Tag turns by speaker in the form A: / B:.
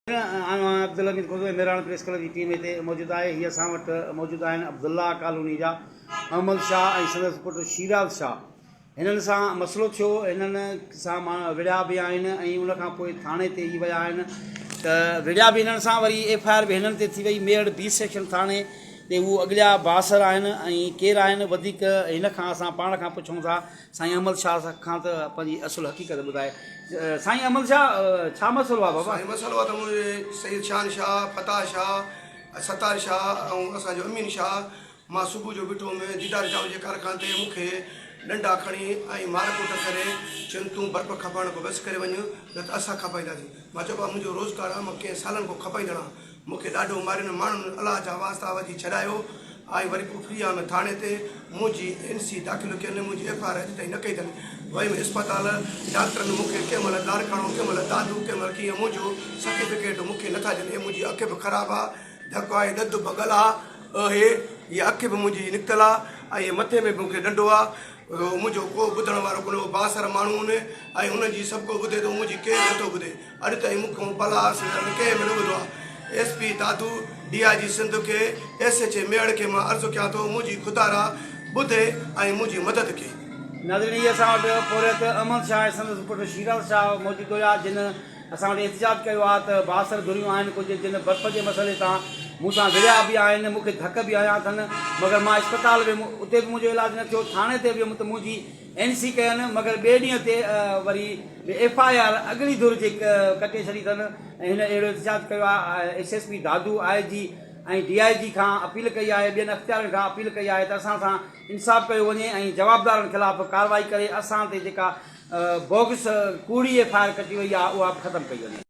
A: آيو آهيان Abdulamin Kozvi Mehran press club جي ٽيم هتي موجود آهي هي اسان وٽ موجود آهن عبدالله ڪالوني جا احمد شاهه ۽ سندس پٽ شيراز شاهه هنن سان مسئلو ٿيو هنن سان مان وڙهيا به آهن ۽ ان کان پوء ٿاڻي تي ئي ويا آهن ته وڙهيا به هنن سان وري ايف آء آر به هنن تي ٿي وئي ميڙ بي سيڪشن ٿاڻي تي هو اڳليا بااثر آهن ۽ ڪير آهن وڌيڪ هن کان اسان پاڻ کان پڇون ٿا سائين احمد شاهه کان ته پنهنجي اصل حقيقت ٻڌائي. سائين احمد شاهه ڇا مسئلو آهي بابا؟ سائين مسئلو آهي ته منهنجي
B: سيد شان شاهه، فتاح شاهه، ستار شاهه ۽ اسان جو امين شاهه مان صبح جو بٺو ۾ ديدار چانور جي ڪارخاني تي مون کي ڏنڊا کڻي ۽ مار ڪٽ ڪري چين تون برف کپائڻ کان بس ڪري وڃ نه ته اسان کپائينداسين. مان چيو بابا منهنجو روزگار آهي مان ڪئين سالن کان کپائيندڙ آهيان مون کي ڏاڍو مارين ماڻهن الله جا واسطا وجهي ڇڏايو آء وري ڪفري آم ٿاڻي تي منهنجي اين سي داخل ڪين منهنجي ايف آء آر اڄ تائين نه ڪئي اٿن ويم اسپتال ڊاڪٽرن مون کي ڪنهن مهل لاڙڪاڻو ڪنهن مهل دادو ڪنهن مهل ڪيئن منهنجو سرٽيفڪيٽ مون کي نٿا ڏين اي منهنجي اک به خراب آ ڌڪ آهي ڏڌ ڀڳل آ اهي هي اک به منهنجي نڪتل آ ۽ مٿي ۾ به مون کي ڏنڊو آ منهنجو ڪو ٻڌڻ وارو ڪونه بااثر ماڻهون ۽ انهن جي سڀڪو ٻڌي ٿو منهنجي ڪير نٿو ٻڌي. اڄ تائين مون ڪنهن بلا حاصل نه ته ڪنهن به نه ٻڌو آهي. S P Dadu, D I G Sindh کي، ايس ايڇ اي ميهڙ کي مان عرض ڪيان ٿو منهنجي خدارا ٻڌي ۽ منهنجي مدد ڪي. ناظرين هي اسان
A: وٽ پورهيت احمد شاهه ۽ سندس پٽ شيراز شاهه موجود هيا جن اسان وٽ احتجاج ڪيو آهي ته بااثر ڌريون آهن ڪجهه جن برف جي مسئلي تان مون سان وڙهيا به آهن مون کي ڌڪ به هنيا اٿن مگر مان اسپتال ويم اتي به منهنجو علاج نه ٿيو ٿاڻي تي به ويم ته منهنجي اين سي ڪين مگر ٻئي ڏينهن تي وري به ايف آء آر اڳلي ڌر جي ڪٽي ڇڏي اٿن ۽ هن اهڙو احتجاج ڪيو آهي S S P Dadu I G ۽ D I G کان اپيل ڪئي آهي ٻين اختيارين کان اپيل ڪئي آهي ته اسان سان انصاف ڪيو وڃي ۽ جوابدارن خلاف ڪارروائي ڪري اسان تي جيڪا بوگس ڪوڙي ايف آء آر ڪٽي وئي آهي اها به ختم ڪئي وڃي.